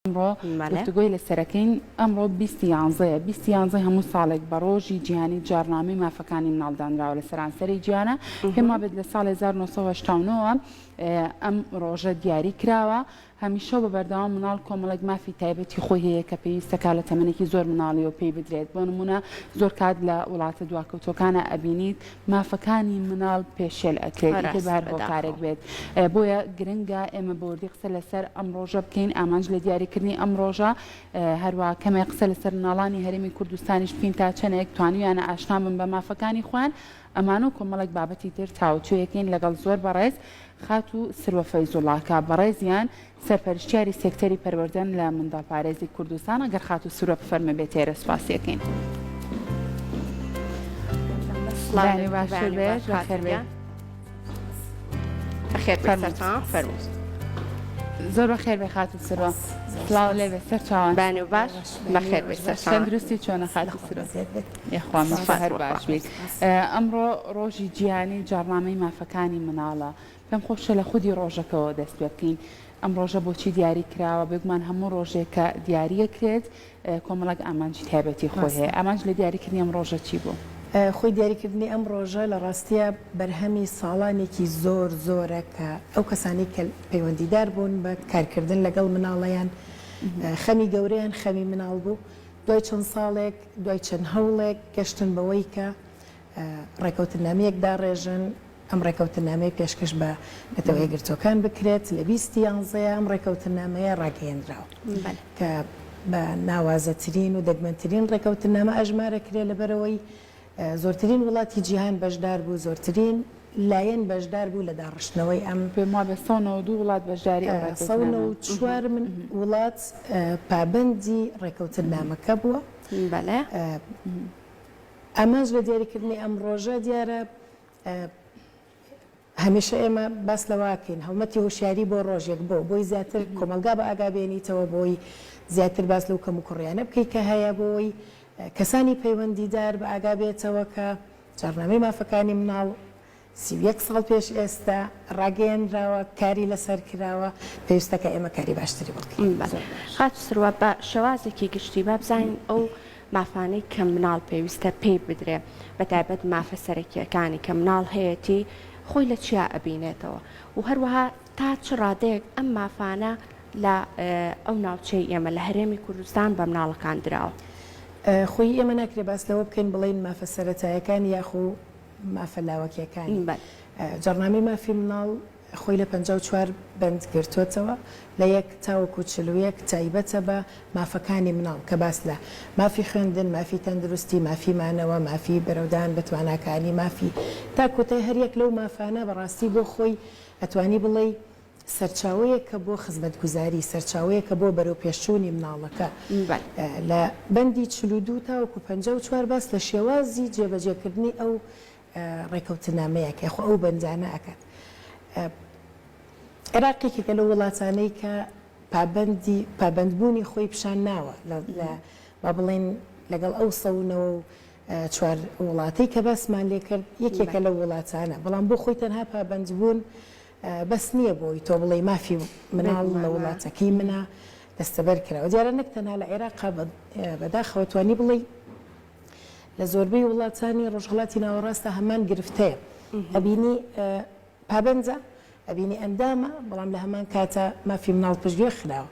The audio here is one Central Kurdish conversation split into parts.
ئەمڕۆ گفتوگۆی لەسەرەکەین، ئەمڕۆ بیست یانزەیە، بیست یانزەی هەموو ساڵێک بە ڕۆژی جیهانی جاڕنامەی مافەکانی مناڵ دانراوە لە سەرانسەری جیهانە، پێم وابێت لە ساڵی هەزار و نۆ سەد و هەشتا و نۆ وە ئەم ڕۆژە دیاری کراوە، هەمیشە و بە بەردەوام مناڵ کۆمەڵێک مافی تایبەتی خۆی هەیە کە پێویستە کە لە تەمەنێکی زۆر مناڵییەوە پێی بدرێت، بۆ نموونە زۆر کات لە وڵاتە دواکەوتووەکانا ئەبینیت مافەکانی مناڵ پێشێل ئەکرێت ئیتر بە هەر هۆکارێک بێت بۆیە گرنگە ئێمە بەوردی قسە لەسەر ئەم ڕۆژە بکەین ئامانج لە دیاریکردنی ئەم ڕۆژە هەروە کەمێ قسە لەسەر مناڵانی هەرێمی کوردستانیش بکەین تا چەنێک توانویانە ئاشنا بن بە مافەکانی خۆیان ئەمانەو کۆمەڵێک بابەتی تر تاوتوێکەین لەگەڵ زۆر بەڕێز خاتوو سروە فەیزوڵاکە بەڕێزیان سەرپەرشتیاری سێکتەری پەروەردەن لە منداڵپارێزی کوردستان، ئەگەر خاتوو سورە بفەرموێ بێتێرە سوپاسیەکەین. زۆر بە خێر بێ خاتو سرۆ سلااو لێ بێ سەر چاوان بان و باش بەخێر تەندروستی چۆنە خات یخوام هەر باش بیت ئەمڕۆ ڕۆژی جیانی جاڕنامەی مافەکانی مناڵە پێم خۆشە لە خودی ڕۆژەکەوە دەست پێ بکەین، ئەم ڕۆژە بۆچی دیاری کراوە، بێگومان هەموو ڕۆژێک کە دیاری ئەکرێت کۆمەڵێک ئامانجی تایبەتی خۆی هەیە، ئامانج لە دیاری کردنی ئەم ڕۆژە چی بوو؟ خۆی دیاری کردنی ئەم ڕۆژە لە ڕاستیا بەرهەمی ساڵانێکی زۆر زۆرە کە ئەو کەسانەی کە پەیوەندیدار بوون بە کارکردن لەگەڵ مناڵەیان خەمی گەورەیان خەمی مناڵ بوو، دوای چەند ساڵێک دوای چەند هەوڵێک گەشتن بەوەی کە ڕێکەوتننامەیەک داڕێژن، ئەم ڕێکەوتننامەیە پێشکەش بە نەتەوە یەکگرتووەکان بکرێت، لە بیست یانزەیە ئەم ڕێکەوتننامەیە ڕاگەیەندراوە، کە بە ناوازەترین و دەگمەنترین ڕێکەوتننامە ئەژمارەکرێ، لەبەرئەوەی زۆرترین وڵاتی جیهان بەشدار بوو، زۆرترین لایەن بەشدار بوو لە داڕشتنەوەی ئەم. پێم وابێ سەد و نەوەد و دوو وڵات بەشداری ئەو ڕێکەوتننامە. سەد و نەوەد و چوار وڵات پابەندی ڕێکەوتننامەکە بووە. بەڵێ. ئامانج لە دیاریکردنی ئەم ڕۆژە، دیارە هەمیشە ئێمە باس لەوەکەین هەڵمەتی هۆشیاری بۆ ڕۆژێک بۆ بۆی زیاتر کۆمەڵگا بە ئاگا بێنیتەوە بۆی زیاتر باس لەو کەم و کوڕیانە بکەیت کە هەیە بۆی کەسانی پەیوەندیدار بە ئاگا بێتەوە کە جاڕنامەی مافەکانی مناڵ سی و یەک ساڵ پێش ئێستا ڕاگەیەنراوە، کاری لەسەر کراوە، پێویستە کە ئێمە کاری باشتری بۆ بکەین. بەڵێ. خاتوو سروە، بە شێوازێکی گشتی با بزانین ئەو مافانەی کە مناڵ پێویستە پێی بدرێ، بە تایبەت مافە سەرەکییەکانی کە مناڵ هەیەتی، خۆی لە چیا ئەبینێتەوە و هەروەها تا چ ڕادەیەک ئەم مافانە لە ئەو ناوچەی ئێمە، لە هەرێمی کوردستان بە مناڵەکان دراوە؟ خۆی ئێمە ناکرێ باس لەوە بکەین بڵێین مافە سەرەتایەکان یاخو مافە لاوەکیەکانی جاڕنامەی مافی مناڵ خۆی لە پەنجا و چوار بەند گرتۆتەوە لە یەک تاوەکو چل و یەک تایبەتە بە مافەکانی مناڵ کە باس لە مافی خوێندن، مافی تەندروستی، مافی مانەوە، مافی بەرەودان بە تواناکانی، مافی. تا کۆتای هەر یەک لەو مافانە بەڕاستی بۆ خۆی ئەتوانی بڵێی سەرچاوەیەکە بۆ خزمەتگوزاری، سەرچاوەیەکە بۆ بەرەوپێشچوونی مناڵەکە. لە بەندی چل و دوو تاوەکو پەنجا و چوار باس لە شێوازی جێبەجێکردنی ئەو ڕێکەوتنامەیە کە خۆ ئەو بەندانە ئەکات. عێراق یەکێکە لەو وڵاتانەی کە پابەندی پابەندبوونی خۆی پیشان ناوە لە لە با بڵێین لەگەڵ ئەو سەد و نەوە و چوار وڵاتەی کە باسمان لێکرد یەکێکە لەو وڵاتانە، بەڵام بۆ خۆی تەنها پابەندبوون بەس نیە بۆی تۆ بڵێی مافی مناڵ لە وڵاتەکەی منە دەستەبەر کراوە دیارە نەک تەنها لە عێراقا بەداخەوە توانی بڵێی لە زۆربەی وڵاتانی ڕۆژهڵاتی ناوەڕاستە هەمان گرفتەیە ئەبینی پابەنجە ئەبینی ئەندامە بەڵام لە هەمان کاتە مافی مناڵ پشتگوێ خراوە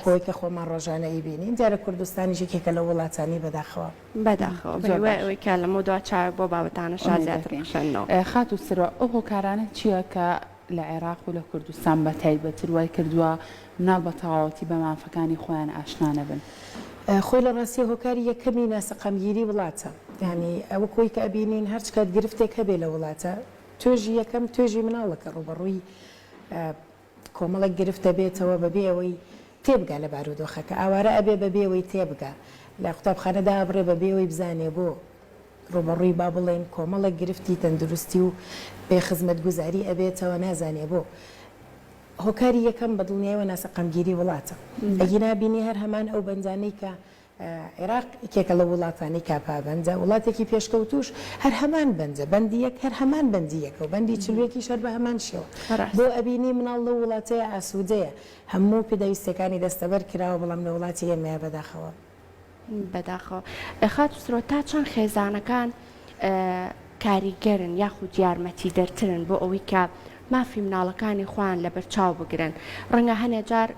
خۆی کە خۆمان ڕۆژانە ئەیبینین دیارە کوردستانی ژێکێکە لە وڵاتانی بەداخەوە بەداخەوە بە هیوای ئەوەی کە لەمەو دوا چاوێک بۆ بابەتانە شاز زیاتر بکشێنەوە. خاتوو سرۆ ئەو هۆکارانە چییە کە لە عێراق و لە کوردستان بە تایبەتر وای کردووە مناڵ بە تەواوەتی بە مافەکانی خۆیان ئاشنا نەبن؟ خۆی لە ڕاستییا هۆکاری یەکەمی ناسەقامگیری وڵاتە یانی وەک ئەوەی کە ئەبینین هەر چ کات گرفتێک هەبێ لە وڵاتە توێژی یەکەم توێژی مناڵە کە ڕووبەڕووی کۆمەڵێک گرفت دەبێتەوە بەبێ ئەوەی تێبگا لە بارودۆخەکە، ئاوارە ئەبێ بەبێ ئەوەی تێبگا، لە قوتابخانە دائەبڕێ بەبێ ئەوەی بزانێ بۆ ڕووبەڕووی با بڵێین کۆمەڵێک گرفتی تەندروستی و بێ خزمەتگوزاری ئەبێتەوە نازانێ بۆ هۆکاری یەکەم بەدڵنیایەوە ناسەقامگیری وڵاتە ئەگینا بینی هەر هەمان ئەو بەندانەی کە عێراق یەکێکە لەو وڵاتانەی کاپابەندە، وڵاتێکی پێشکەوتووش هەر هەمان بەندە، بەندی یەک هەر هەمان بەندی یەکە و بەندی چل و یەکیش هەر بە هەمان شێوە. بۆ ئەبینی مناڵ لەو وڵاتەیە ئاسوودەیە، هەموو پێداویستییەکانی دەستەبەر کراوە، بەڵام لە وڵاتی ئێمەیە بەداخەوە. بەداخەوە. خاتوو سرۆ تا چەند خێزانەکان کاریگەرن یاخود یارمەتیدەرترن بۆ ئەوەی کە مافی مناڵەکانی خۆیان لەبەرچاو بگرن. ڕەنگە هەنێ جار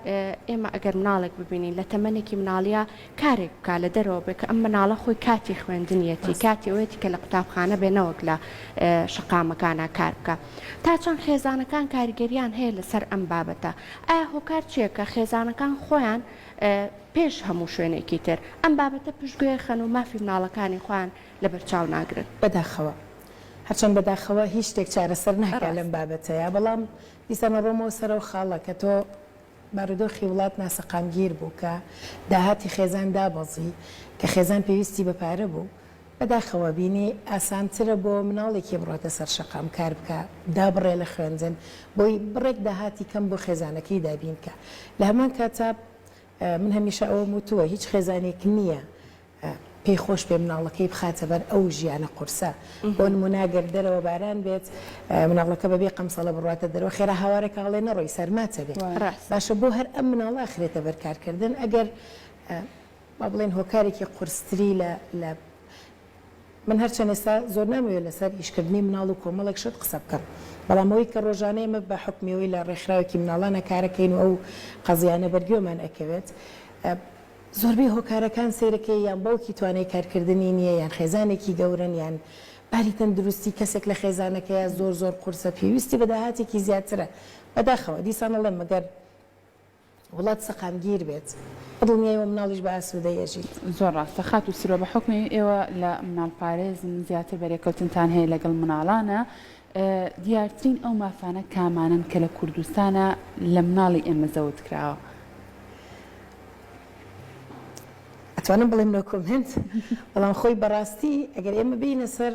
ئێمە ئەگەر مناڵێک ببینین لە تەمەنێکی مناڵییە کارێک بکات لە دەرەوە بێت کە ئەم مناڵە خۆی کاتی خوێندنیەتی، کاتی ئەوەیەتی کە لە قوتابخانە بێت نەوەک لە شەقامەکانا کار بکات. تا چەند خێزانەکان کاریگەرییان هەیە لەسەر ئەم بابەتە؟ ئایا هۆکار چییە کە خێزانەکان خۆیان پێش هەموو شوێنێکی تر ئەم بابەتە پشتگوێ خەن و مافی مناڵەکانی خۆیان لەبەرچاو ناگرن. بەداخەوە. هەرچەند بەداخەوە هیچ شتێک چارەسەر ناکا لەم بابەتەیا، بەڵام دیسان ئەڕۆمەوە سەرەو خاڵە کە تۆ بارودۆخی وڵات ناسەقامگیر بوو کە داهاتی خێزان دابەزی، کە خێزان پێویستی بە پارە بوو، بەداخەوە بینی ئاسانترە بۆ مناڵێکی بڕۆتە سەر شەقام کار بکا، دابڕێ لە خوێندن بۆی بڕێک داهاتی کەم بۆ خێزانەکەی دابین کا. لە هەمان کاتا من هەمیشە ئەوەم وتووە هیچ خێزانێک نییە پێی خۆش بێ مناڵەکەی بخاتە بەر ئەو ژیانە قورسە بۆ نموونە گەر دەرەوە باران بێت مناڵەکە بەبێ قەمسەڵە بڕاتە دەرەوە خێرا هاوارەکە هەڵێ نەڕۆی سەرماتە بێت باشە بۆ هەر ئەم مناڵە ئەخرێتە بەر کارکردن ئەگەر با بڵێن هۆکارێکی قورستری لە لە من هەرچەند ئێستا زۆر نامەوێت لەسەر ئیشکردنی مناڵ و کۆمەڵێک شت قسە بکەم بەڵام ئەوی کە ڕۆژانەیە مە بە حکمەوەی لە ڕێکخراوێکی مناڵانە کارەکەین و ئەو قەزیانە بەرگێمان ئەکەوێت زۆربەی هۆکارەکان سەیرەکەی یان باوکی توانای کارکردنی نییە یان خێزانێکی گەورەن یان باری تەندروستی کەسێک لە خێزانەکەیا زۆر زۆر قورسە پێویستی بە داهاتێکی زیاترە بەداخەوە دیسان ئەڵێم مەگەر وڵات سەقامگیر بێت بەدڵنیای وە مناڵیش بە ئاسودەی ئەژیت. زۆر ڕاستە خاتوو سرۆ بەحوکمی ئێوە لە مناڵ پارێزن زیاتر بەرێکەوتنتان هەیە لەگەڵ مناڵانە دیارترین ئەو مافانە کامانەن کە لە کوردستانا لە مناڵی ئێمە زەوت کراوە؟ ئەتوانم بڵێم نۆ کۆمێنت بەڵام خۆی بەڕاستی ئەگەر ئێمە بێینە سەر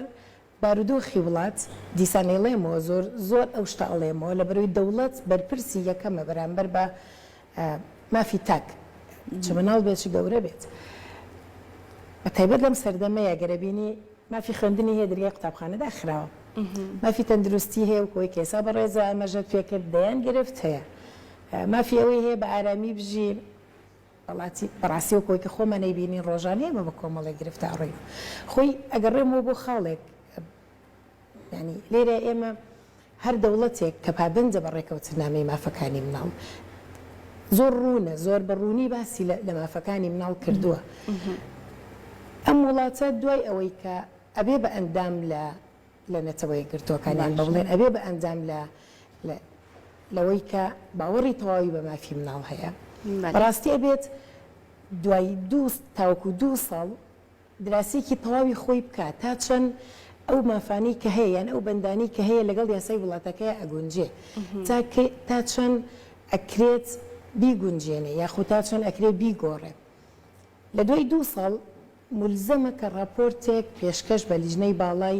بارودۆخی وڵات دیسان ئەیڵێمەوە زۆر زۆر ئەو شتە ئەڵێمەوە لەبەرەوەی دەوڵەت بەرپرسی یەکەمە بەرامبەر بە مافی تاک چ مناڵ بێت چ گەورە بێت بە تایبەت لەم سەردەمەیە گەر ئەبینی مافی خوێندنی هەیە دەرگای قوتابخانە داخراوە مافی تەندروستی هەیە وەکو ئەوەی کە ئێستا بەڕێزە ئاماژەت پێ کرد دەیان گرفت هەیە مافی ئەوەی هەیە بە ئارامی بژین وڵاتی بەڕاستی وەکو ئەوەی کە خۆمان نەیبینین ڕۆژانە ئێمە بە کۆمەڵێک گرفتە ئەڕۆین خۆی ئەگەڕێمەوە بۆ خاڵێک یانی لێرە ئێمە هەر دەوڵەتێک کە پابەندە بە ڕێکەوتنامەی مافەکانی مناڵ زۆر ڕوونە زۆر بە ڕوونی باسی لە مافەکانی مناڵ کردووە ئەم وڵاتە دوای ئەوەی کە ئەبێ بە ئەندام لە لە نەتەوەی گرتوەکانیان بە بڵێن ئەبێ بە ئەندام لە لەوەی کە باوەڕی تەواوی بە مافی مناڵ هەیە بەڕاستی ئەبێت دوای دوو تاوەکو دوو ساڵ دراسەیەکی تەواوی خۆی بکا تا چەند ئەو مافانەی کە هەیە یان ئەو بەندانەی کە هەیە لەگەڵ یاسای وڵاتەکەیا ئەگونجێ تا کەی تا چەند ئەکرێت بیگونجێنێ یاخو تا چەند ئەکرێ بیگۆڕێ لە دوای دوو ساڵ مولزەمە کە ڕاپۆرتێک پێشکەش بە لیژنەی باڵای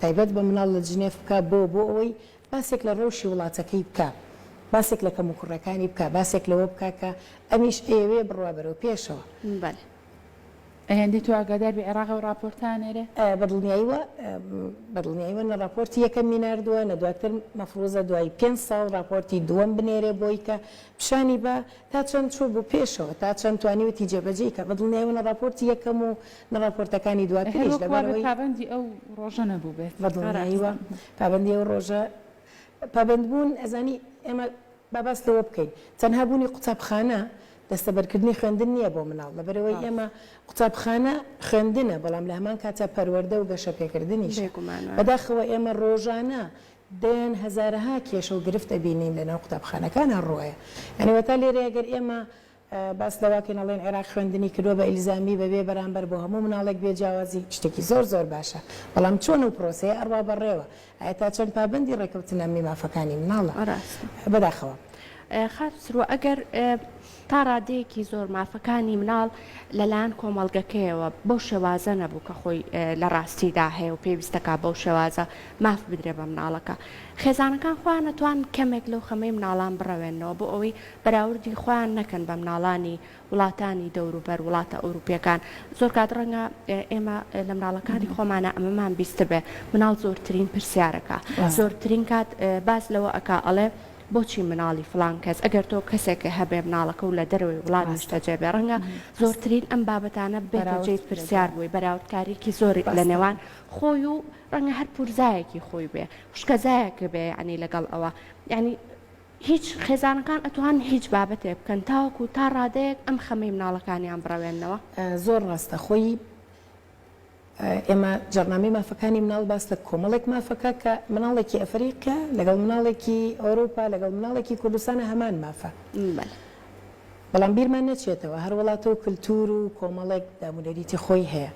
تایبەت بە مناڵ لە جنێف بکا بۆ بۆ ئەوەی باسێک لە ڕەوشی وڵاتەکەی بکا باسێک لە کەموکوڕەکانی بکا باسێک لەوە بکا کە ئەمیش ئەیەوێ بڕوا بەرەو پێشەوە. ئەیەندەی تۆ ئاگادار بی عێراق ئەو ڕاپۆرتە ئەنێرێ؟ بەدڵنیاییوە بەدڵنیاییوە نە ڕاپۆرتی یەکەمی ناردووە نە دواتر مەفروزە دوای پێنج ساڵ ڕاپۆرتی دووەم بنێرێ بۆی کە پیشانی با تا چەند چووبوو پێشەوە تا چەند توانیوێتی جێبەجێی کا بەدڵنیاییوە نە ڕاپۆرتی یەکەم و نە ڕاپۆرتەکانی دواتریش هەروەک وابێ لەبەرئەوەی پابەندی ئەو ڕۆژە نەبووبێت بەدڵنیاییوە پابەندی ئەو ڕۆژە پابەندبوون ئەزانی ئێمە با باس لەوە بکەین تەنها بوونی قوتابخانە دەستەبەرکردنی خوێندن نییە بۆ مناڵ، لەبەرئەوەی ئێمە قوتابخانە خوێندنە، بەڵام لە هەمان کاتدا پەروەردە و گەشەپێکردنیشە، بەداخەوە ئێمە ڕۆژانە دەیان هەزارەها کێشە و گرفت ئەبینین لەناو قوتابخانەکان هەڕوایە، یانی وەتا لێرەیە گەر ئێمە باس لەوەکەین ئەڵێن عێراق خوێندنی کردوە بە ئیلزامی بەبێ بەرامبەر بۆ هەموو مناڵێک بێ جیاوازی شتێکی زۆر زۆر باشە بەڵام چۆن ئەو پرۆسەیە ئەڕوا بەڕێوە ئایە تا چەند پابەندی ڕێکەوتنە ئەمنی مافەکانی مناڵە بەداخەوە. خاتو سروە ئەگەر تا ڕادەیەکی زۆر مافەکانی مناڵ لەلایەن کۆمەڵگەکەیەوە بەو شێوازە نەبوو کە خۆی لە ڕاستیدا هەیە و پێویستەکە بەو شێوازە ماف بدرێ بە مناڵەکە خێزانەکان خۆیان نەتوان کەمێک لەو خەمەی مناڵان بڕەوێنەوە بۆ ئەوەی بەراوردی خۆیان نەکەن بە مناڵانی وڵاتانی دەوروبەر وڵاتە ئەوروپیەکان زۆر کات ڕەنگە ئێمە لە مناڵەکانی خۆمانە ئەمەمان بیستبێ مناڵ زۆرترین پرسیارەکە زۆرترین کات باس لەوە ئەکا ئەڵێ بۆچی مناڵی فڵان کەس ئەگەر تۆ کەسێکە هەبێ مناڵەکە و لە دەرەوەی وڵات نیشتەجێ بێ ڕەنگە زۆرترین ئەم بابەتانە بێتە جێی پرسیار بووی بەراوردکاریکی زۆر لە نێوان خۆی و ڕەنگە هەر پورزایەکی خۆی بێ خوشکەزایەکە بێ یعنی لەگەڵ ئەوە یعنی هیچ، خێزانەکان ئەتوانن هیچ بابەتێک بکەن تاوەکو تا ڕادەیەک ئەم خەمەی مناڵەکانیان بڕەوێننەوە. زۆر ڕاستە خۆی ئێمە جاڕنامەی مافەکانی مناڵ باس لە کۆمەڵێک مافەکە کە مناڵێکی ئەفەریقیا لەگەڵ مناڵێکی ئەوروپا لەگەڵ مناڵێکی کوردستانە هەمان مافە. بەڵام بیرمان نەچێتەوە هەر وڵاتەو کلتور و کۆمەڵێک دامونەریتی خۆی هەیە،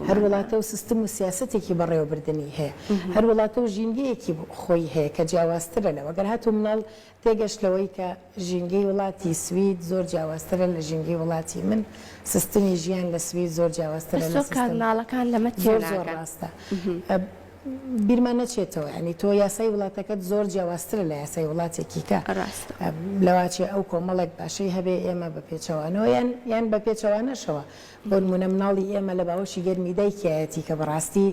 هەر وڵاتەو سستم و سیاسەتێکی بەڕێوەبردنی هەیە، هەر وڵاتەو ژینگەیەکی خۆی هەیە کە جیاوازترە لەوە، گەر هاتوو مناڵ تێگەشت لەوەی کە ژینگەی وڵاتی سوید زۆر جیاوازترە لە ژینگەی وڵاتی من، سستمی ژیان لە سوید زۆر جیاوازترە لە سستم. زۆر ڕاستە. بیرمان نەچێتەوە یانی تۆ یاسای وڵاتەکەت زۆر جیاوازترە لە یاسای وڵاتێکیکە ڕاستە لەواچێ ئەو کۆمەڵێک باشەی هەبێ ئێمە بە پێچەوانەوە یان یان بە پێچەوانەشەوە بۆنمونە مناڵی ئێمە لە باوەشی گەرمی دایکیایەتی کە بەڕاستی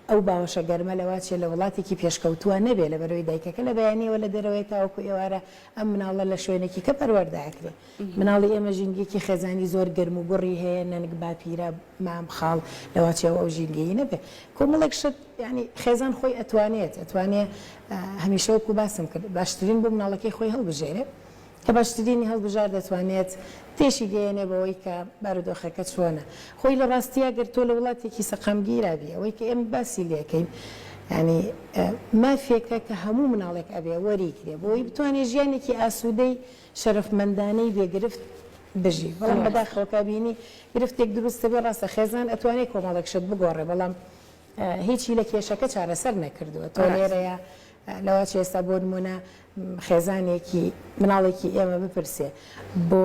ئەو باوەشە گەرمە لەواچێ لە وڵاتێکی پێشکەوتووە نەبێ لەبەرەوەی دایکەکە لە بەیانیەوە لە دەرەوەی تاوەکو ئێوارە ئەم مناڵە لە شوێنێکیکە پەروەردە ئەکرێ مناڵی ئێمە ژینگەیەکی خێزانی زۆر گەرم و گوڕی هەیە نەنک باپیرە مام خاڵ لەواچێ و ئەو ژینگەیی نەبێ کۆمەڵێک شت یانی خێزان خۆی ئەتوانێت ئەتوانێ هەمیشە وەکو باسم کرد باشترین بۆ مناڵەکەی خۆی هەڵبژێرێ کە باشترینی هەڵبژار دەتوانێت تێشی گەیەنێ بەوەی کە بارودۆخەکە چۆنە خۆی لە ڕاستیا گەر تۆ لە وڵاتێکی سەقامگیرابی ئەوەی کە ئێمە باسی لەکەین ینی مافێکە کە هەموو مناڵێک ئەبێ وەریگرێ بۆی بتوانێت ژیانێکی ئاسوودەی شەرەفمەندانەی بێ گرفت بژی بەڵام بەداخەوە کا بینی گرفتێک دروست دەبێ ڕاستە خێزان ئەتوانێ کۆمەڵێک شت بگۆڕێ بەڵام هیچی لە کێشەکە چارەسەر نەکردووە تۆ لێرەیە لەوا چ ئێستا بۆ نمونە خێزانێکی مناڵێکی ئێمە بپرسێ بۆ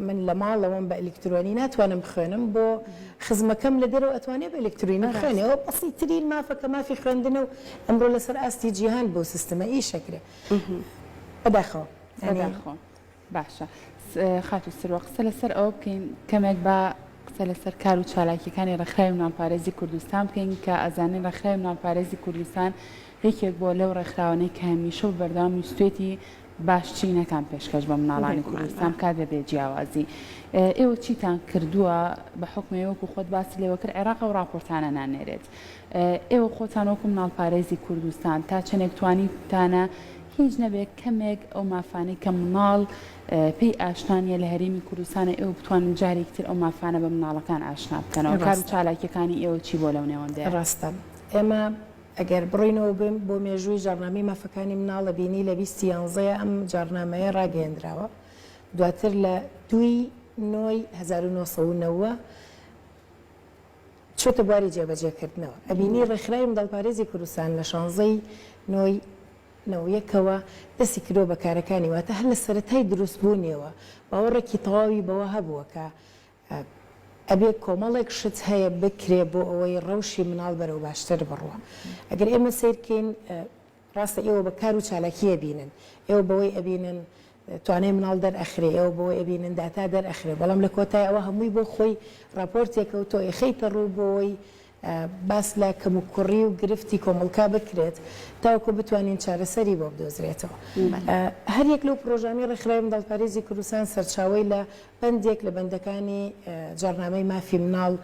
من لە ماڵەوەم بە ئەلکترۆنی ناتوانم بخوێنم بۆ خزمەکەم لە دەرەوە ئەتوانێ بە ئەلکترینی بخوێنەوە بەسی ترین مافەکە مافی خوێندنە و ئەمڕۆ لەسەر ئاستی جیهان بۆ سیستمە ئیشەکرێ بەداخەوە بەداخۆ باشە خاتو سروە قسە لەسەر ئەوە بکەین کەمێک بە قسە لەسەر کار و چالاکیەکانی ڕخراوی ناپارێزی کوردستان بکەین کە ئەزانین ڕخراوی ناپارێزی کوردستان یەکێک بۆ لەو ڕێکخراوانەی کە هەمیشە و بەردەوام ویستێتی باشترینەکان پێشکەش بە مناڵانی کوردستان کات بە بێ جیاوازی ئێوە چیتان کردووە بە حکمەوەکو خۆت باسی لێوەکرد عێراق و راپۆرتانە نانێرێت ئێوە خۆتان وەکو مناڵپارێزی کوردستان تا چەندێک توانیوتانە هیچ نەبێت کەمێک ئەو مافانەی کە مناڵ پێی ئاشنا نیە لە هەرێمی کوردستانە ئێوە بتوانن جارێکی تر ئەو مافانە بە مناڵەکان ئاشنا بکەنەوە کار و چالاکیەکانی ئێوە چی بوە لەو نێوەندەیە؟ ڕاستە ئێمە ئەگەر بڕینەوە بم بۆ مێژووی جاڕنامەی مافەکانی مناڵە بینی لە بیستی یانزەیە ئەم جاڕنامەیە ڕاگەیەندراوە دواتر لە دووی نۆی هەزار و نۆ سەد و نەوە چۆتە بواری جێبەجێکردنەوە ئەبینی ڕێکخراوی منداڵپارێزی کوردستان لە شانزە ی نۆ ی نۆ یەکەوە دەستی کردووە بە کارەکانی واتە هەر لە سەرەتای دروست بوونیەوە باوەڕێکی تەواوی بەوە هەبووە کە ئەبێ کۆمەڵێک شت هەیە بکرێ بۆ ئەوەی ڕەوشی مناڵ بەرەو باشتر بڕوا ئەگەر ئێمە سەیرکەین ڕاستە ئێوە بە کار و چالاکی ئەبینن، ئێوە بەوەی ئەبینن توانای مناڵ دەرئەخرێ، ئێوە بەوەی ئەبینن داتا دەرئەخرێ، بەڵام لە کۆتای ئەوە هەمووی بۆ خۆی ڕاپۆرتێکە و تۆ ئەیخەیتە ڕوو بۆی باس لە کەموکوڕی و گرفتی کۆمەڵکا بکرێت تاوەکو بتوانین چارەسەری بۆ بدۆزرێتەوە. هەر یەک لەو پڕۆژانەی ڕێکخراوی منداڵپارێزی کوردستان سەرچاوەی لە بەندێک لە بەندەکانی جاڕنامەی مافی مناڵ،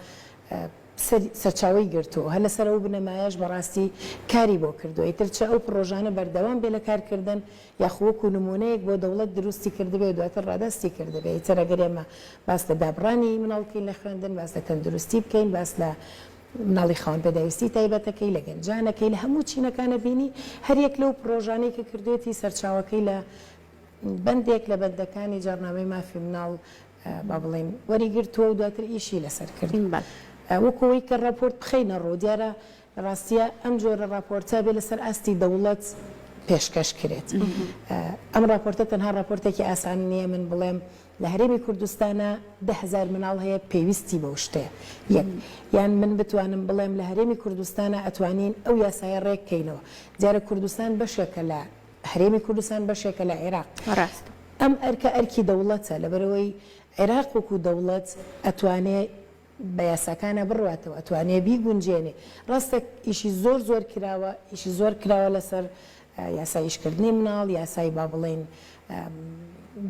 سەرچاوەی گرت و هەر لەسەر ئەو بنەمایەش بەڕاستی کاری بۆ کردووە، ئیتر چ ئەو پڕۆژانە بەردەوام بێ لە کارکردن یاخو وەکو نموونەیەک بۆ دەوڵەت دروستی کردبێ و دواتر ڕادەستی کردبێ، ئیتر ئەگەر ئێمە باس لە دابڕانی مناڵ بکەین لە خوێندن، باس لە تەندروستی بکەین، باس لە مناڵی خاوەن پێداویستی تایبەتەکەی، لە گەنجانەکەی، لە هەموو چینەکانە بینی هەر یەک لەو پڕۆژانەی کە کردوێتی سەرچاوەکەی لە بەندێک لە بەندەکانی جاڕنامەی مافی مناڵ با بڵێین وەریگرتووە و دواتر ئیشی لەسەر کردووە. وەکو ئەوەی کە ڕاپۆرت بخەینە ڕوو، دیارە لە ڕاستییە ئەم جۆرە ڕاپۆرتە ئەبێ لەسەر ئاستی دەوڵەت پێشکەش کرێت. ئەم ڕاپۆرتە تەنها ڕاپۆرتێکی ئاسان نییە من بڵێم لە هەرێمی کوردستانا دە هەزار مناڵ هەیە پێویستی بەو شتەیە، یەک. یان من بتوانم بڵێم لە هەرێمی کوردستانا ئەتوانین ئەو یاسایە ڕێک کەینەوە. دیارە کوردستان بەشێکە لە هەرێمی کوردستان بەشێکە لە عێراق. ڕاستە. ئەم ئەرکە ئەرکی دەوڵەتە، لەبەرئەوەی عێراق وەکو دەوڵەت ئەتوانێ بە یاساکانا بڕواتەوە، ئەتوانێ بیگونجێنێ. ڕاستە ئیشی زۆر زۆر کراوە، ئیشی زۆر کراوە لەسەر یاسای ئیشکردنی مناڵ، یاسای با بڵێین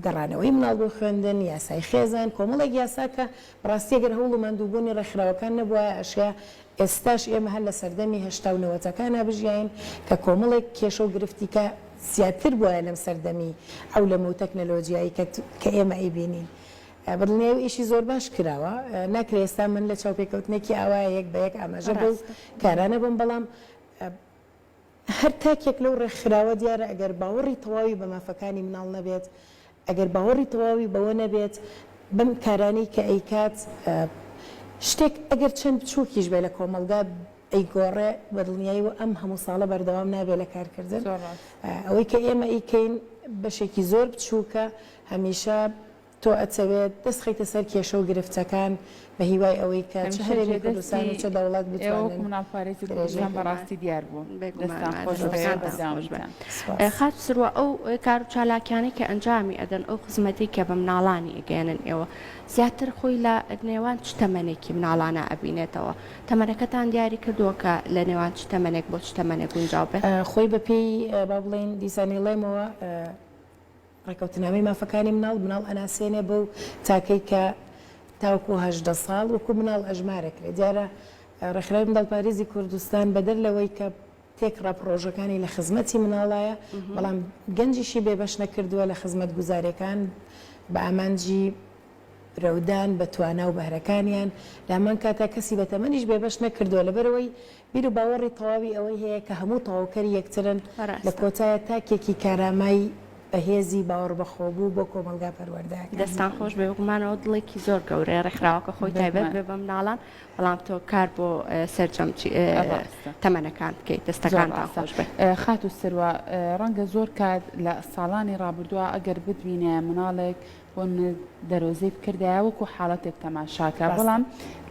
گەڕانەوەی مناڵ بۆ خوێندن، یاسای خێزان، کۆمەڵێک یاسا کە بەڕاستی گەر هەوڵ و ماندووبوونی ڕێکخراوەکان نەبوایە ئەشێ ئێستاش ئێمە هەر لە سەردەمی هەشتا و نەوەتەکانا بژیاین کە کۆمەڵێک کێشە و گرفتی کە زیاتر بوایە لەم سەردەمی عەولەمە و تەکنەلۆجیایی کە کە ئێمە ئەیبینین بەدڵنیایی و ئیشی زۆر باش کراوە ناکرێ ئێستا من لە چاوپێکەوتنێکی ئاوایە یەک بە یەک ئاماژە بەو کارانە بم بەڵام هەر تاکێک لەو ڕێکخراوە دیارە ئەگەر باوەڕی تەواوی بە مافەکانی مناڵ نەبێت، ئەگەر باوەڕی تەواوی بەوە نەبێت بەم کارانەی کە ئەیکات شتێک ئەگەر چەند بچووکیش بێ لە کۆمەڵگا ئەیگۆڕێ بە دڵنیایەوە ئەم هەموو ساڵە بەردەوام نابێ لە کارکردن. ئەوەی کە ئێمە ئەیکەین بەشێکی زۆر بچووکە هەمیشە تۆ ئەتەوێت دەست خەیتە سەر کێشە و گرفتەکان بە هیوای ئەوەی کە چ هەمیشە هەرێمی جێدەستی کوردستان و چ دەوڵەت ئێوە و بتوانن کومناڵ پارێزی درێژەی کوردستان بە بێگومان ڕاستی دیار بوو بێگومان دەستان خۆش بێ ماندوو دەستەکانتان خۆش بێ بەردەوامیتان. سوپاس. خاتو سروە ئەو کارو چالاکیانەی کە ئەنجامی ئەدەن ئەو خزمەتەی کە بە مناڵانی ئەگەیەنن ئێوە زیاتر خۆی لە نێوان چ تەمەنێکی مناڵانە ئەبینێتەوە تەمەنەکەتان دیاری کردوە کە لە نێوان چ تەمەنێک بۆ چ تەمەنێک گونجاو بێت؟ خۆی بە پێی با بڵێین دیسانیڵێمەوە ڕێکەوتنامەی مافەکانی مناڵ، مناڵ ئەناسێنێ بەو تاکەی کە تاوەکو هەژدە ساڵ وەکو مناڵ ئەژمارەکرێ. دیارە ڕێکخراوی منداڵپاریزی کوردستان بەدەر لەوەی کە تێکڕا پڕۆژەکانی لە خزمەتی مناڵایە، بەڵام گەنجیشی بێبەش نەکردووە لە خزمەتگوزاریەکان بە ئامانجی. برەودان بە توانا و بەهرەکانیان، لامان کاتە کەسی بە تەمەنیش بێبەش نەکردووە، لەبەرئەوەی بیر و باوەڕی تەواوی ئەوەی هەیە کە هەموو تەواوکەری یەکترن، لە ڕاستە. کۆتایە تاکێکی کارامای بەهێزی باوەڕبەخۆبوو بۆ کۆمەڵگا پەروەردەکە. دەستتان خۆش، بێ گومانەوە دڵێکی زۆر گەورەیە، ڕێکخراوەکە خۆی بێ تایبەت گومان. بێ بە مناڵان، بەڵام تۆ کار بۆ سەرجەم چی ڕاستە. تەمەنەکان بکەیت، زۆر دەستەکانتان ڕاستە. خۆش بێت. خاتوو سروە، ڕەنگە زۆر کات لە ساڵانی ڕابردووا ئەگەر بتبینێ مناڵێک بۆن دەرۆزەی بکردایە وەکو حاڵەتێک تەماشاکە بەڵام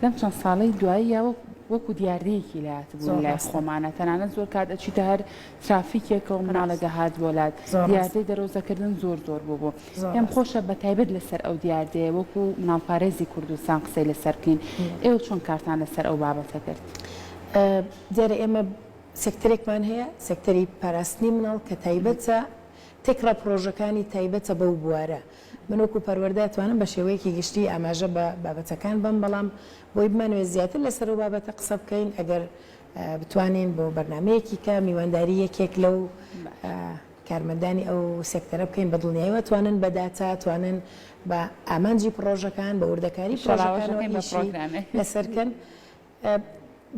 لەم چەند ساڵەی دواییەوە وەکو دیاردەیەکی لات بوو لای خۆمانە تەنانەت زۆر کات ئەچیتە هەر ترافیکێکە و مناڵە دەهات بۆ لات دیاردەی دەرۆزەکردن زۆر زۆر بوو بوو پێم خۆشە بە تایبەت لەسەر ئەو دیاردەیە وەکو مناڵپارێزی کوردستان قسەی لەسەر بکەین ئێوە چۆن کارتان لەسەر ئەو بابەتە کرد دیارە ئێمە سێکتەرێکمان هەیە سێکتەری پاراستنی مناڵ کە تایبەتە تێکڕا پڕۆژەکانی تایبەتە بەو بوارە. من وەکو پەروەردە ئەتوانم بە شێوەیەکی گشتی ئاماژە بە بابەتەکان بەم بەڵام بۆی بمانەوێت زیاتر لەسەر ئەو بابەتە قسە بکەین ئەگەر بتوانین بۆ بەرنامەیەکی کە میوانداری یەکێک لەو کارمەندانی ئەو سێکتەرە بکەین بە دڵنیایی و ئەتوانن بە داتا توانن بە ئامانجی پڕۆژەکان بە وردەکاری پڕۆژەکانەوە ئیشی لەسەر کەن.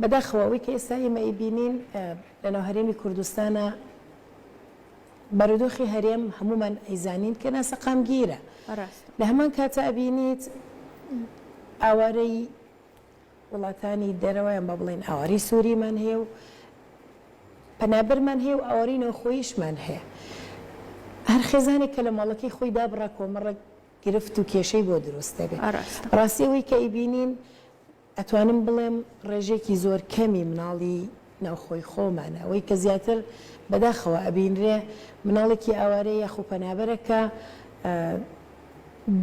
بەداخەوە ئەوەی کە ئێستا ئێمە ئەیبینین لەناو هەرێمی کوردستانە، بارودۆخی هەرێم هەموومان ئەیزانین کە ناسەقامگیرە. ڕاستە. لە هەمان کاتە ئەبینیت ئاوارەی وڵاتانی دەرەوە یان با بڵێین ئاوارەی سووریمان هەیە و پەنابەرمان هەیە و ئاوارەی ناوخۆییشمان هەیە. هەر خێزانێک کە لە ماڵەکەی خۆی دابڕا کۆمەڕێک گرفت و کێشەی بۆ دروست دەبێت. ڕاستە. ڕاستی ئەوەی کە ئەیبینین ئەتوانم بڵێم ڕێژەیەکی زۆر کەمی مناڵی ناوخۆی خۆمان ئەوەی کە زیاتر بەداخەوە ئەبینرێ مناڵێکی ئاوارەیە یاخو پەنابەرە کە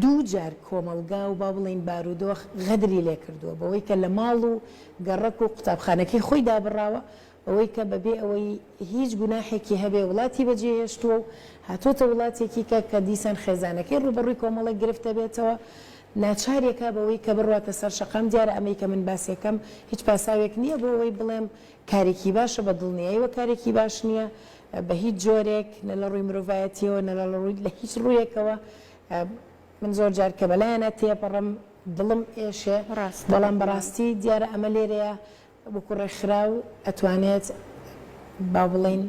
دوو جار کۆمەڵگا و با بڵێین بارودۆخ غەدری لێ کردووە بەوەی کە لە ماڵ و گەڕەک و قوتابخانەکەی خۆی دابڕاوە ئەوەی کە بەبێ ئەوەی هیچ گوناحێکی هەبێ وڵاتی بەجێهێشتووە و هاتۆتە وڵاتێکی کە کە دیسان خێزانەکەی ڕووبەڕووی کۆمەڵێک گرفت دەبێتەوە ناچاری ئەکا بەوەی کە بڕواتە سەر شەقام دیارە ئەمەی کە من باسی ئەکەم هیچ پاساوێک نییە بۆ ئەوەی بڵێم کارێکی باشە بە دڵنیایەوە کارێکی باش نییە بە هیچ جۆرێک نە لە ڕووی مرۆڤایەتیەوە نە لە ڕووی لە هیچ ڕوویەکەوە من زۆر جار کە بەلایانە تێپەڕم دڵم ئێشێ بەڵام بەڕاستی دیارە ئەمە لێرەیە وەکو ڕێکخراو ئەتوانێت با بڵێین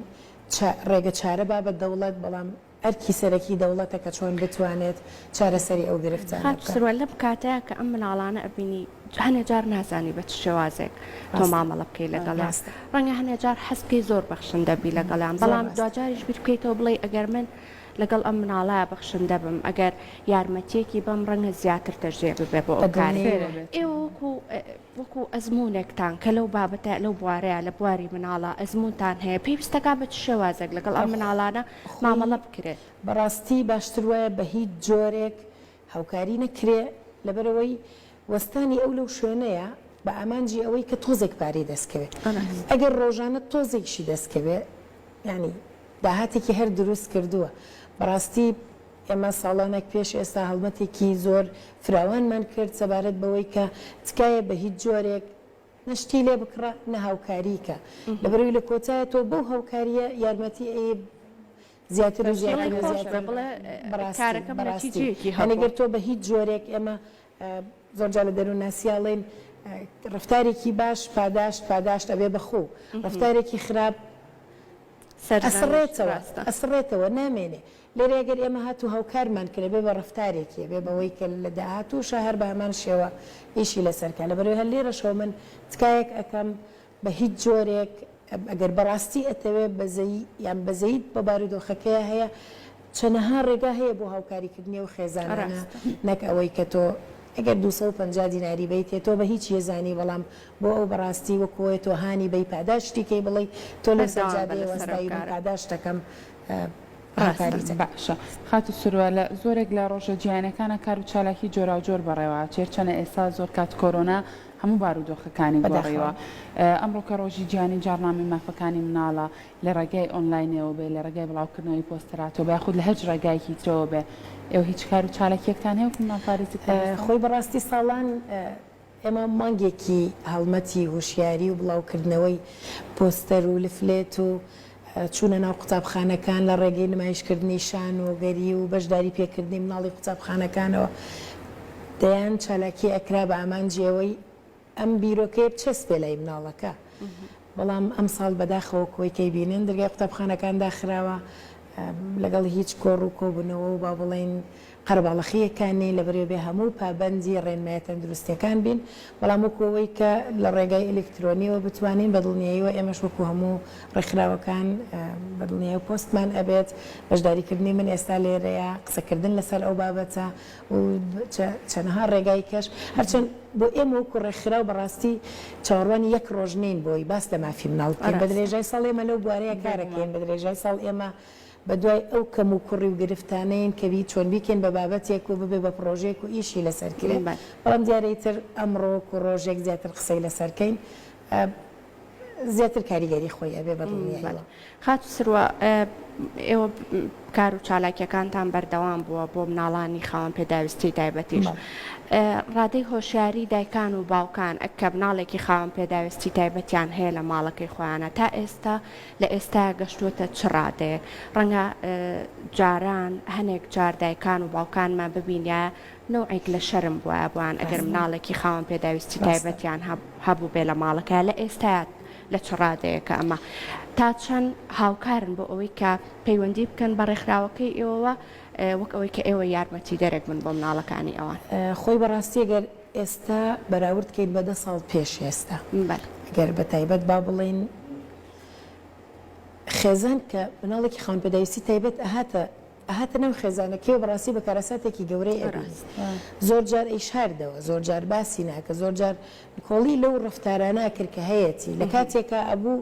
چا ڕێگە چارە با بە دەوڵەت بەڵام ئەرکی سەرەکی دەوڵەتە کە چۆن بتوانێت چارەسەری ئەو گرفتانە خاتو بکات. سروە لەم کاتەیا کە ئەم مناڵانە ئەبینی هەنێ جار نازانی بە چ شێوازێک تۆ ڕاستە مامەڵە بکەی آه لەگەڵیان ڕاستە. ڕەنگە هەنێ جار حەز بکەی زۆر بەخشندە بی مهم. لەگەڵیان زۆر بەڵام ڕاستە. دواجاریش بیر بکەیتەوە بڵێی ئەگەر من لەگەڵ ئەم مناڵەیا بەخشندە بم ئەگەر یارمەتیەکی بەم ڕەنگە زیاتر دەرجێ ببێ بۆ ئەو بە کارەی دڵنیاییەوە بێت. ئێوە وەکو وەکو ئەزموونێکتان کە لەو بابەتە لەو بوارەیا لە بواری مناڵە ئەزموونتان هەیە پێویستەکا بە چ شێوازێک لەگەڵ ئەم مناڵانە مامەڵە بکرێ؟ بەڕاستی باشتر وایە بە هیچ جۆرێک هاوکاری نەکرێ لەبەرئەوەی وەستانی ئەو لەو شوێنەیا بە ئامانجی ئەوەی کە تۆزێک پارەی دەست کەوێ ئەگەر ڕۆژانە تۆزێکشی دەست کەوێ یانی داهاتێکی هەر دروست کردووە بەڕاستی ئێمە ساڵانێک پێش ئێستا هەڵمەتێکی زۆر فراوانمان کرد سەبارەت بەوەی کە تکایە بە هیچ جۆرێک نە شتی لێ بکڕە نە هاوکاری کە، لەبەرئەوەی لە کۆتایە تۆ بەو هاوکارییە یارمەتی ئەی زیاتر و زیاتر و زیاتر بەڕاستی بەڕاستی یانی گەر تۆ بە هیچ جۆرێک ئێمە زۆر جار لە دەروونناسییا ئەڵێین ڕەفتارێکی باش پاداشت پاداشت ئەبێ بە خوو ڕەفتارێکی خراپ ئەسڕێتەوە ئەسڕێتەوە نامێنێ لێرە گەر ئێمە هاتوو هاوکارمان کرێ بێ بە ڕەفتارێکێ بێ بەوەی کە لە داهاتووشا هەر بە هەمان شێوە ئیشی لەسەر کا لەبەرەوەی هەر لێرەشەوە من تکایەک ئەکەم بە هیچ جۆرێک ئەگەر بە ڕاستی ئەتەوێ بەزەیی یان بەزەییت بە بارودۆخەکەیا هەیە چەنەها ڕێگا هەیە بۆ هاوکاری کردنی ئەو خێزانانە نەک ئەوەی کە تۆ ئەگەر دوو سەد و پەنجا دیناری بەیتێ تۆ بە هیچ یەزانی بەڵام بۆ ئەو بە ڕاستی وەکوۆێ تۆ هانی بەی پاداشتی کەی بڵێی تۆ لەو سەجادەیە وەستای من پاداشتەکەم ڕاست باشە خاتو سروە لە زۆرێک لە ڕۆژە جیهانیەکانا کارو چالاکی جۆراوجۆر بەڕێوە ئەچێ هەرچەنە ئێسا زۆر کات کۆرۆنا هەموو بارودۆخەکانی گۆڕیوە ئەمڕۆ کە ڕۆژی جیهانی جاڕنامەی مافەکانی مناڵە لە ڕێگای ئۆنلاینەوە بێ لە ڕێگای بڵاوکردنەوەی پۆستەراتۆ بە یاخود لە هەچ ڕێگایەکی ترەوە بێ ئێوە هیچ کارو چالاکیەکتان هەیە وەکو مناڵپارێزی کۆمەڵگا؟ خۆی بەڕاستی ساڵان ئێمە مانگێکی هەڵمەتی هۆشیاری و بڵاوکردنەوەی پۆستەر و لفلێت و چوونە ناو قوتابخانەکان لە ڕێگەی نمایشکردنی شانۆگەری و بەشداری پێکردنی مناڵی قوتابخانەکانەوە دەیان چالاکی ئەکرا بە ئامانجی ئەوەی ئەم بیرۆکەیە بچەسپێ لای مناڵەکە بەڵام ئەمساڵ بەداخەوە کۆی کەی بینن دەرگای قوتابخانەکان داخراوە لەگەڵ هیچ کۆڕ و کۆبوونەوە و با بڵێین قەرەباڵەخییەک کە نین لە بەرێ بێ هەموو پابەندی ڕێنمایە تەندروستییەکان بین بەڵام وەکو ئەوەی کە لە ڕێگای ئەلیکترۆنیەوە بتوانین بە دڵنیاییەوە ئێمەش وەکو هەموو ڕێکخراوەکان بە دڵنیاییەوە پۆستمان ئەبێت بەشداریکردنی من ئێستا لێرەیە قسەکردن لەسەر ئەو بابەتە و چەنەها ڕێگای کەش، هەرچەند بۆ ئێمە وەکو ڕێکخراو بەڕاستی چاوەڕوانی یەک ڕۆژ نین بۆی باس لە مافی مناڵ بکەین، بە درێژای ساڵ ئێمە لەو بوارەیە کارەکەین، بە درێژای ساڵ ئێمە بە دوای ئەو کەم و کوڕی و گرفتانەین کە بی چۆن بیکەین بە بابەتێک و ببێ بە پڕۆژەیەک و ئیشی لەسەر کرێ، بەڵام دیارە ئیتر ئەمڕۆ وەکو ڕۆژێک زیاتر قسەی لەسەر کەین، زیاتر کاریگەری خۆی ئەبێ بە دڵنیاییەوە. خاتوو سروە ئێوە کار و چالاکیەکانتان بەردەوام بووە بۆ مناڵانی خاوەن پێداویستی تایبەتیش ڕادەی هۆشیاری دایکان و باوکان ئەک کە مناڵێکی خاوەن پێداویستی تایبەتیان هەیە لە ماڵەکەی خۆیانە تا ئێستا لە ئێستا گەشتووەتە چ ڕادەیەک ڕەنگە جاران هەنێک جار دایکان و باوکانمان ببینە نەوعێک لە شەرم بوایە بۆیان ئەگەر مناڵێکی خاوەن پێداویستی تایبەتیان هەبووبێ لە ماڵەکەیا لە ئێستایا لە چ ڕادەیەکە ئەمە تا چەند هاوکارن بۆ ئەوەی کە پەیوەندی بکەن بە ڕێکخراوەکەی ئێوەوە وەک ئەوەی کە ئێوە یارمەتی دەرێک بن بۆ مناڵەکانی ئەوان خۆی بەڕاستی گەر ئێستا بەراورد کەین بە دە ساڵ پێش ئێستا گەر بە تایبەت با بڵێین خێزان کە مناڵێکی خاوەن پێداویستی تایبەت ئەهاتە ئەهاتە ناو خێزانەکەی و بەڕاستی بە کارەساتێکی گەورەی ئەبینی زۆر جار ئەیشاردەوە زۆر جار باسی ناکرد زۆر جار نکۆڵی لەو ڕەفتارانە ئەکرد کە هەیەتی لە کاتێکا ئەبوو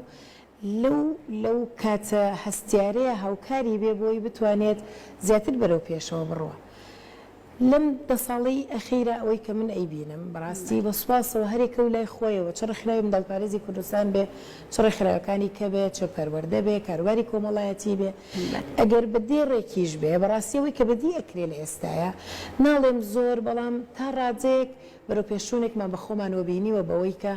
لەو لەو کاتە هەستیارەیە هاوکاری بێ بۆی بتوانێت زیاتر بەرەو پێشەوە بڕوا. لەم دە ساڵەی ئەخیرا ئەوەی کە من ئەیبینم بەڕاستی بە سوپاسەوە هەریەکە و لای خۆیەوە چ ڕێکخراوی منداڵپارێزی کوردستان بێ چ ڕێکخراوەکانی کە بێ چ پەروەردە بێ کاروباری کۆمەڵایەتی بێ ئەگەر بە دێ ڕێکیش بێ بەڕاستی ئەوەی کە بەدی ئەکرێ لە ئێستایا ناڵێم زۆر بەڵام تا ڕادەیەک بەرەوپێشچوونێکمان بە خۆمانەوە بینیوە بەوەی کە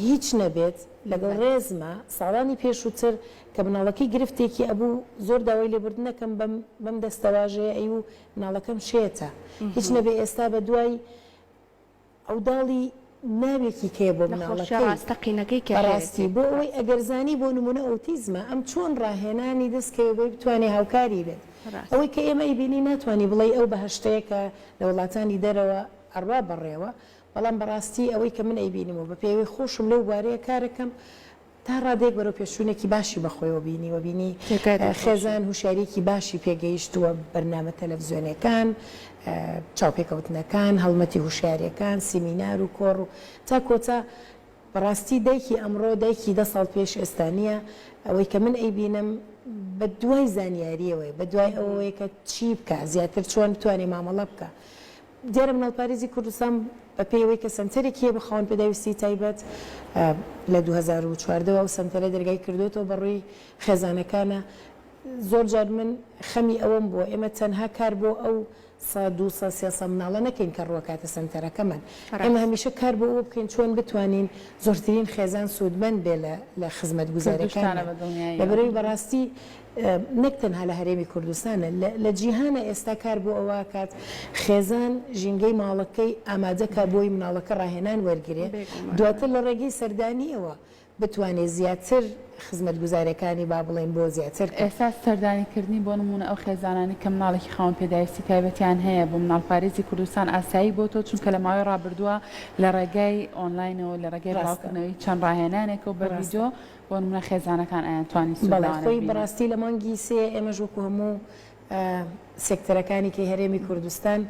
هیچ نەبێت لەگەڵ ڕێزما ساڵانی پێشوتر کە مناڵەکەی گرفتێکی ئەبوو زۆر داوای لێبوردن ئەکەم بەم بەم دەستەواژەیە ئەی و مناڵەکەم شێتە هیچ نەبێ ئێستا بەدوای عەوداڵی ناوێکی کەیە بۆ مناڵەکەی بەڕاستی بۆ ئەوەی ئەگەر زانی بۆ نمونە ئۆتیزمە ئەم چۆن ڕاهێنانی دەست کەوێ بۆی بتوانێ هاوکاری بێت ئەوەی کە ئێمە ئەیبینی ناتوانی بڵێی ئەو بەهەشتەیە کە لە وڵاتانی دەرەوە ئەڕوا بەڕێوە بەڵام بەڕاستی ئەوەی کە من ئەیبینم و بە پێوەی خۆشم لەو بوارەیە کارەکەم تا ڕادەیەک بەرەوپێشچوونێکی باشی بە خۆیەوە بینیوە بینی خێزان هوشیاریەکی باشی پێگەیشتووە بەرنامە تەلەڤزیۆنەکان چاوپێکەوتنەکان هەڵمەتی هوشیارەکان سیمینار و کۆڕ و تا کۆتا بەڕاستی دایکی ئەمڕۆ دایکی دە ساڵ پێش ئێستا نییە ئەوەی کە من ئەیبینم بە دوای زانیاریەوەی بە دوای ئەوەیە کە چی بکە زیاتر چۆن بتوانێ مامەڵە بکە دیارە مناڵپارێزی کوردستان بە پێی ئەوەی کە سەنتەرێکی هەیە بە خاوەن پێداویستیی تایبەت لە دوو هەزار و چواردە وە ئەو سەنتەرە دەرگای کردۆتەوە بە ڕووی خێزانەکانا زۆر جار من خەمی ئەوەم بووە ئێمە تەنها کار بۆ ئەو سە دوو سە سێ سە مناڵە نەکەین کە ڕووەکاتە سەنتەرەکەمان ئێمە ڕاست. هەمیشە کار بۆ ئەوە بکەین چۆن بتوانین زۆرترین خێزان سوودمەند بێ لە لە خزمەتگوزاریەکانمان کردووشتانە بە دڵنیایی لە بەرەوەی ئەوە. بەڕاستی نەک تەنها لە هەرێمی کوردستان، لە جیهانە ئێستا کار بۆ ئەوە ئەکات خێزان ژینگەی ماڵەکەی ئامادە کا بۆی مناڵەکە ڕاهێنان وەرگرێ دواتر لە ڕێگەی سەردانیەوە بتوانێ زیاتر خزمەتگوزاریەکانی با بڵێن بۆ زیاتر کا. ئێستا سەردانی کردنی بۆ نمونە ئەو خێزانانەی کە مناڵێکی خاوەن پێداویستی تایبەتیان هەیە بۆ مناڵپارێزی کوردستان ئاسایی بۆتەوە چونکە لە ماوەی ڕابردوە لە ڕێگای ئۆنلاینەوە لە ڕێگای بڵاوکردنەوەی چەند ڕاهێنانێکەوە بە ڤیدۆ بۆ نمونە خێزانەکان ئایان توانی سود لەوانە ببینن؟ بەڵێ خۆی بەڕاستی لە مانگی سێ ئێمەش وەکو هەموو سێکتەرەکانی کەی هەرێمی کوردستان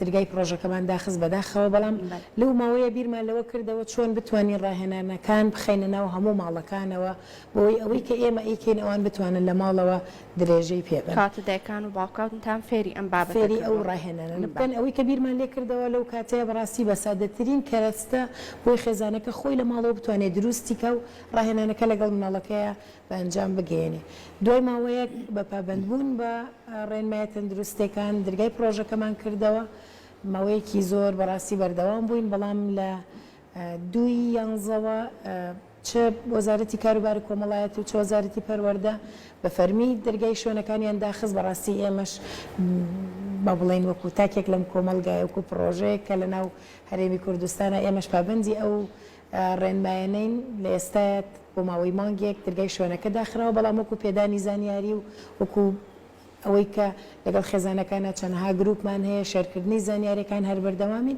درگای پڕۆژەکەمان داخست بەداخەوە بەڵام لەو ماوەیە بیرمان لەوە کردەوە چۆن بتوانین ڕاهێنانەکان بخەینە ناو هەموو ماڵەکانەوە بۆی ئەوەی کە ئێمە ئەیکەین ئەوان بتوانن لە ماڵەوە درێژەی پێ بن. کاتە دایکان و باوکانتان فێری ئەم بابەتە کردووە؟ فێری ئەو ڕاهێنانە بکەن. ئەوەی کە بیرمان لێ کردەوە لەو کاتەیە بەڕاستی بە سادەترین کەرەستە بۆی خێزانەکە خۆی لە ماڵەوە بتوانێ دروستی کا و ڕاهێنانەکە لەگەڵ مناڵەکەیا بە ئەنجام بگەیەنێ. دوای ماوەیەک بە پابەند بوون بە ڕێنمایە تەندروستێکان درگای پڕۆژەکەمان کردەوە. ماوەیەکی زۆر بەڕاستی بەردەوام بووین بەڵام لە دووی یانزەوە، چ وەزارەتی کاروباری کۆمەڵایەتی و چ وەزارەتی پەروەردە بە فەرمی دەرگای شوێنەکانیان داخست بەڕاستی ئێمەش با بڵێین وەکو تاکێک لەم کۆمەڵگایە وەکو پڕۆژەیەک کە لەناو هەرێمی کوردستانە ئێمەش پابەندی ئەو ڕێنمایەنەین لە ئێستایە بۆ ماوەی مانگێک دەرگای شوێنەکە داخراوە بەڵام وەکو پێدانی زانیاری و وەکو ئەوەی کە لەگەڵ خێزانەکانە چەنەها گروپمان هەیە شێرکردنی زانیاریەکان هەر بەردەوامین